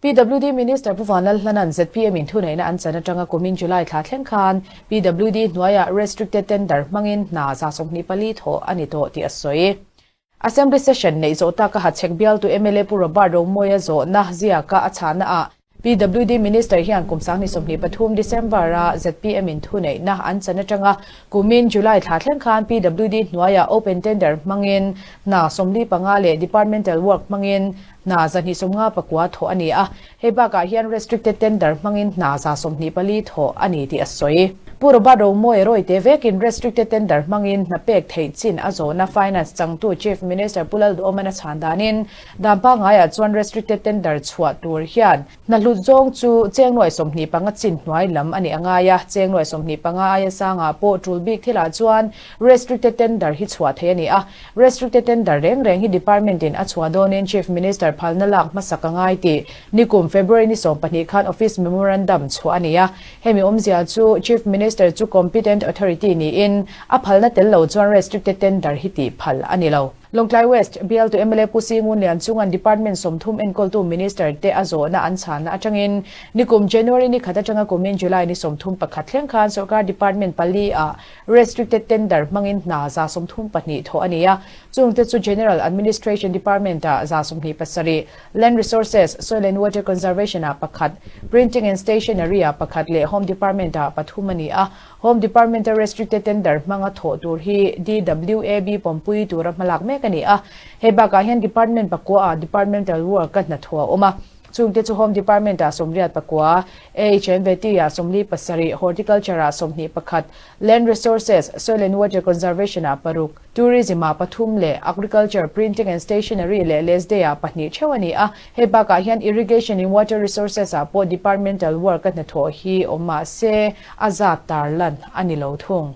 PWD Minister Pu Vanlalhlanan zpm in thuneihna an chan atanga kumin July thla thleng khan PWD hnuaia restricted tender hmangin hna za sawmhnih pali thawh a ni tawh tih a sawi. Assembly session neih zawh taka ha chhek bial tu mla Pu Robert Rawngmawia zawhna ziaka a chhahna ah PWD Minister hian kum sanghnih sawmhnih pathum, December, a zpm in thuneihna an chan atanga kumin July thla thleng khan PWD hnuaia open tender hmangin hna sawmli panga leh departmental work hmangin Hna za hnih sawm nga pakua thawh a ni a, hei bakah hian restricted tender hmangin hna za sawm hnih pali thawh a ni tih a sawi. Pu Robert Omoe rawite vekin restricted tender hmangin hna pek theih chin a zawhna Finance changtu Chief Minister Pu Lalduoman a chhan danin, Dan pangngai ah chuan restricted tender chhuah tur hian, Hnahlut zawng chu Chengnuai sawmhnih panga chin hnuai lam a nih a ngai a, Chengnuai sawmhnih panga aia sangah pawh tul bik thilah chuan Restricted Tender hi chhuah thei a ni a. Restricted Tender reng reng hi Department in a chhuah dawnin Chief Minister phalna lak hmasak a ngai tih nikum February ni sawm pahnih khan Office Memorandum chhuah a ni a. Hemi awmzia chu Chief Minister chu Competent Authority niin a phalna tel lo chuan Restricted Tender hi tih phal a ni lo. Lawngtlai West, Bialtu mla Pu Sii Ngun Lian chunga Department sawmthum enkawltu Minister te a zawhna an chhanna atangin nikum January ni khat atanga kumin July ni sawmthum pakhat thleng khan sawrkar Department pali ah Restricted Tender hmangin hna za sawmthum pahnih thawh a ni a. Chung te chu General Administration Department ah za sawmhnih pasarih, Land Resources, Soil and Water Conservation ah pakhat, Printing and Stationery ah pakhat leh Home Department ah pathum a ni a. Home Department-a Restricted Tender hmanga thawh tur hi DWAB pawmpui tura hmalak mek a ni a, he bakah hian Department pakuaah Departmental Work ka hnathawh a awm a. Chungte chu Home Department-a sawmriat pakua, AHMVT-a sawmli pasarih, Horticulture-a sawmhnih pakhat, Land Resources, Soil and Water Conservation-a paruk, Tourism ah pathum leh Agriculture, Printing and Stationery leh Less Day ah pahnih theuh a ni a. Hei bakah hian Irrigation in Water Resources ah pawh Departmental Work a hnathawh hi awm mahse a zat tarlan a ni lo thung.